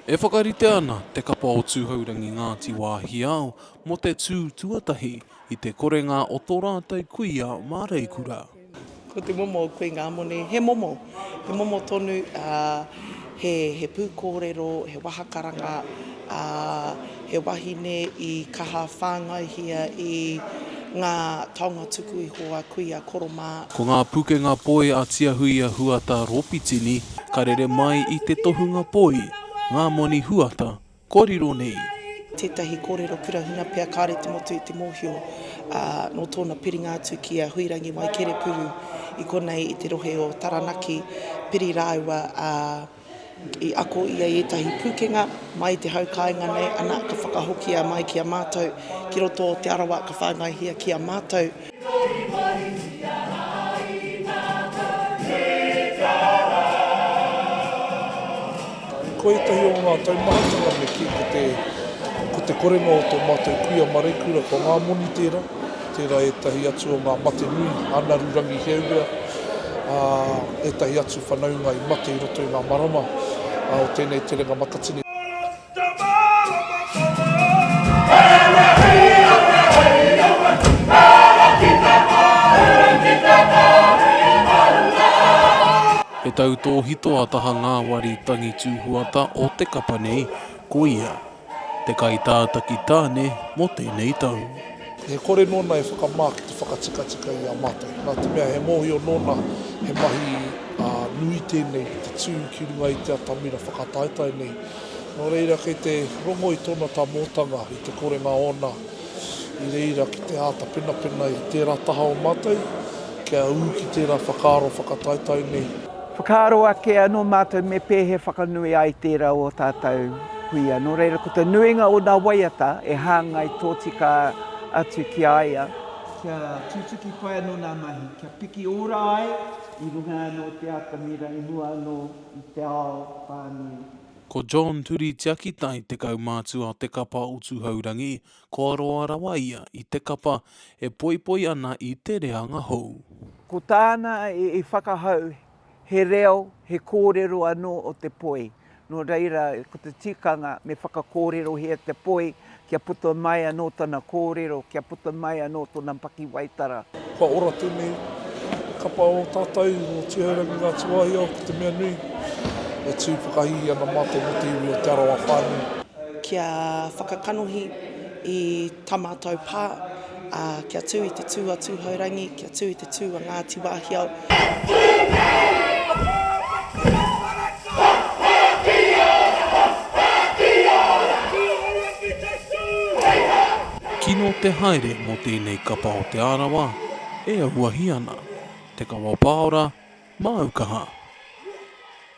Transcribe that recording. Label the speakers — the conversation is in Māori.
Speaker 1: E whakarite ana te kapa o Tūhourangi Ngāti Wāhiao mō te tū tuatahi i te korenga o tō rātou kuia māreikura. Ko te momo o Kuingamone, he momo, he momo tonu, he pūkōrero, he wahakaranga, ā, he wahine i kaha whāngaihia i ngā taonga tuku iho a Kuia Koro mā. Ko ngā pukenga poi a Tiahuia Huata Rōpitini ka rere mai i te tohunga poi, ngā moni huata, kua riro nei. Tētahi kōrero kura huna pea kāore te motu i te mōhio, ā, nō tōna piringa atu ki a Huirangi Waikerepuru i konei i te rohe o Taranaki, piri rāua a. I ako ia i ētahi pūkenga mai i te hau kāinga nei, ana, ka whakahokia mai ki a mātou ki roto o Te Arawa, ka whāngaihia ki a mātou. Ko ētahi o ngā taumahatanga me kī ko te korenga o tō mātou kuia Marekura, ko ngā moni tērā. tērā ētahi atu o ngā mate nui, anaru rangi heaurea, ā, ētahi atu whanaunga i mate i roto i ngā marama o tēnei terenga matatini. He tautōhito a Taha Ngāwari Tangi Tūhuata o te kapa nei, ko ia. Te Kaitātaki Tāne mō tēnei tau. He kore nōna e whakamā ki te whakatikatika i a mātou. Nā te mea he mōhio nōna he mahi nui tēnei ki te tū ki runga i te atamira whakataetae nei. Nō reira kei te rongo i tōna tamōtanga i te korenga ōna i reira ki te āta penapena i tērā taha o mātou kia ū ki tērā whakaaro whakataetae nei. Whakaaro ake anō mātou me pēhea whakanui ai tērā o ō tātou kuia, nō reira ko te nuinga o nā waiata e hāngai tōtika atu ki a ia, kia tutuki pai anō nā mahi, kia piki ora ai i runga anō i te atamira i mua anō i te ao whānui. Ko John Turitiaki, Tae 10 mātua o te kapa o Tuhourangi, Kua roa rawa ia i te kapa e poipoi ana i te reanga hou. Ko tāna i whakahau he reo, he kōrero anō o te poi. Nō reira, ko te tikanga me whakakōrerohia te poi kia puta mai anō tana kōrero, kia puta mai anō tōna pakiwaitara. Kua ora tēnei kapa o tātou o Tūhourangi Ngā Tūāhia o Te Meanui e tū whakahīhī ana mā te motu iwi o Te Arawa whānui. Kia whakakanohi i ta matou pa, a kia tu i te tu a Tuhourangi, kia tu i te tu a Ngati Wahiao. Kino te haere mo tenei kapa o Te Arawa e auahi ana, Te Kawa Paora, Māukaha.